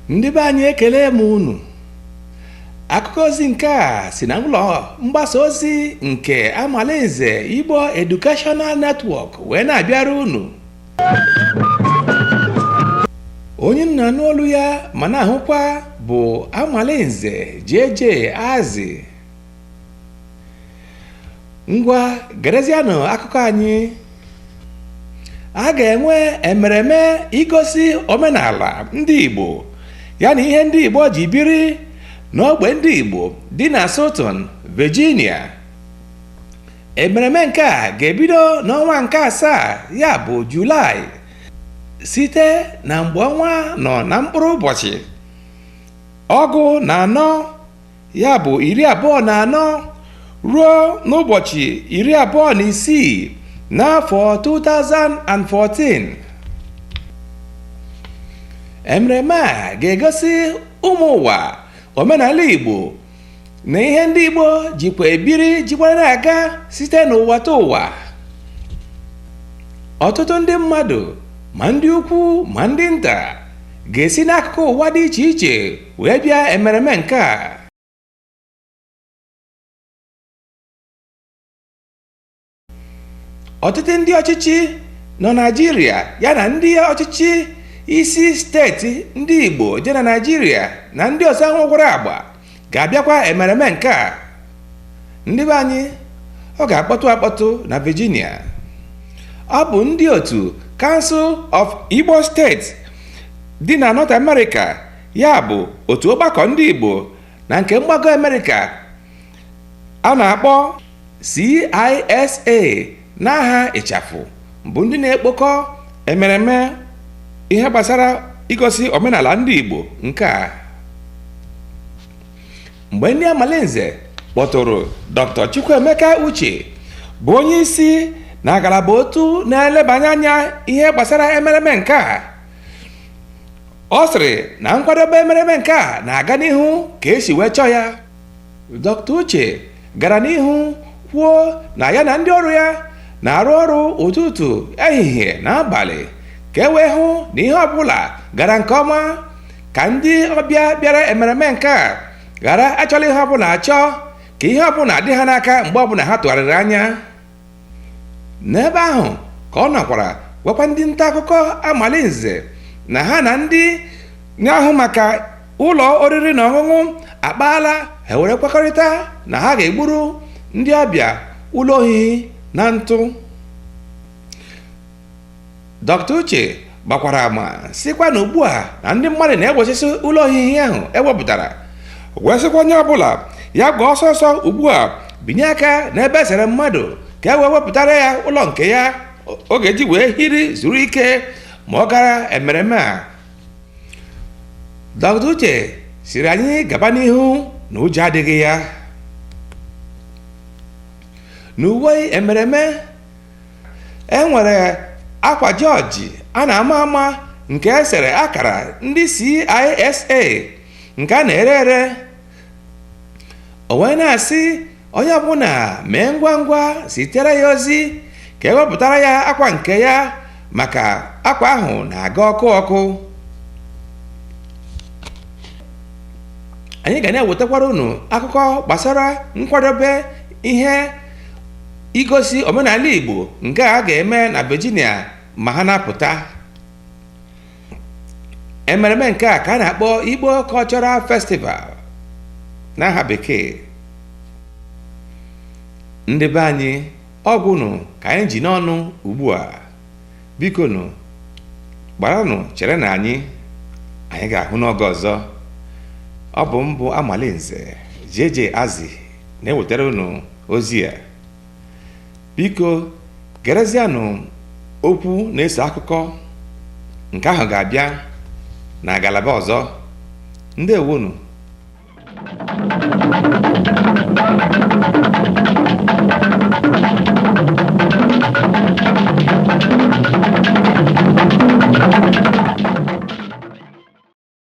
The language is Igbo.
ndị be anyị ekele m unu akụkọ ozi nke a si na ụlọ mgbasa ozi nke Amalinze Igbo Educational Network wee na-abịara unu onye unu na-anụ olu ya ma na-ahụkwa bụ Amalinze JJ Azi ngwa gerezianụ akụkọ anyị a ga-enwe emereme igosi omenala ndị Igbo ya na ihe ndị Igbo ji biri n'ogbe ndị Igbo dị na Staunton, Virginia emereme nke a ga-ebido n'ọnwa nke asaa ya bụ Julaị site na mgbe ọnwa nọ na mkpụrụ ụbọchị ọgụ na anọ ya bụ iri abụọ na anọ ruo n'ụbọchị iri abụọ na isii n'afọ 2014 emereme a ga-egosi ụmụ ụwa omenala igbo na ihe ndị igbo jikwa ebiri jikwa na-aga site n'ụwa ta ụwa ọtụtụ ndị mmadụ ma ndị ukwu ma ndị nta ga-esi n'akụkụ ụwa dị iche iche wee bịa emereme nke a ọtụtụ ndị ọchịchị nọ naijiria ya na ndị ọchịchị isi steeti ndị igbo dị na naijiria na ndị ọzọ nwekwara agba ga-abịakwa emereme nke a ndị be anyị ọ ga-akpọtụ akpọtụ na virginia ọ bụ ndị otu council of igbo states dị na north america ya bụ otu ọgbakọ ndị Igbo na nke mgbago Amerịka a na-akpọ CISA n'aha ịchafụ bụ ndị na-ekpokọ emereme ihe gbasara igosi omenala ndị Igbo nke a mgbe ndị Amalinze kpọtụrụ Dr. Chukwuemeka Uche bụ onye isi na ngalaba otu na-elebanye anya ihe gbasara emereme nke a ọ sịrị na nkwadobe emereme nke a na-aga n'ihu ka e si wee chọọ ya dr uche gara n'ihu kwuo na ya na ndị ọrụ ya na-arụ ọrụ ụtụtụ ehihie na abalị ka e wee hụ na ihe ọbụla gara nke ọma ka ndị ọbịa bịara emereme nke a ghara achọla ihe ọbụla achọ ka ihe ọbụla dị ha n'aka mgbe ọbụla ha tụgharịrị anya n'ebe ahụ ka ọ nọkwara gwakwa ndị nta akụkọ amalinze na ha na ndị na-ahụ maka ụlọ oriri na ọṅụṅụ akpaala ha were kwekọrịta na ha ga-egburu ndị ọbịa ụlọ ohihi na ntụ dr uche gbakwara ama sịkwa na ugbu a na ndị mmadụ na-egbochisi ụlọ ohihi ahụ e wepụtara wee sịkwa onye ọbụla ya gbaa ọsọ ọsọ ugbu a binye aka n'ebe e sere mmadụ ka e wee wepụtara ya ụlọ nke ya ọ ga-eji wee hiri zuru ike ma ọ gara emereme a dr uche sịrị anyị gaba n'ihu na ụjọ adịghị ya n'uwe emereme e nwere akwa jọji a na-ama ama nke e sere akara ndị CISA nke a na-ere ere o wee na-asị onye ọbụla mee ngwa ngwa zitere ya ozi ka e wepụtara ya akwa nke ya maka akwa ahụ na-aga ọkụ ọkụ anyị ga na-ewetakwara unu akụkọ gbasara nkwadobe ihe igosi omenala Igbo nke a ga-eme na Virginia ma ha na-apụta emereme nke a ka a na-akpọ Igbo Cultural Festival n'aha bekee ndị be anyị ọ gwụnụ ka anyị ji n'ọnụ ugbu a bikonụ gbaranụ chere na anyị anyị ga-ahụ n'oge ọzọ ọ bụ m bụ amalinze jeje azi na-ewetara unu ozi a biko gerezianụ okwu na-eso akụkọ nke ahụ ga-abịa na ngalaba ọzọ ndewonụ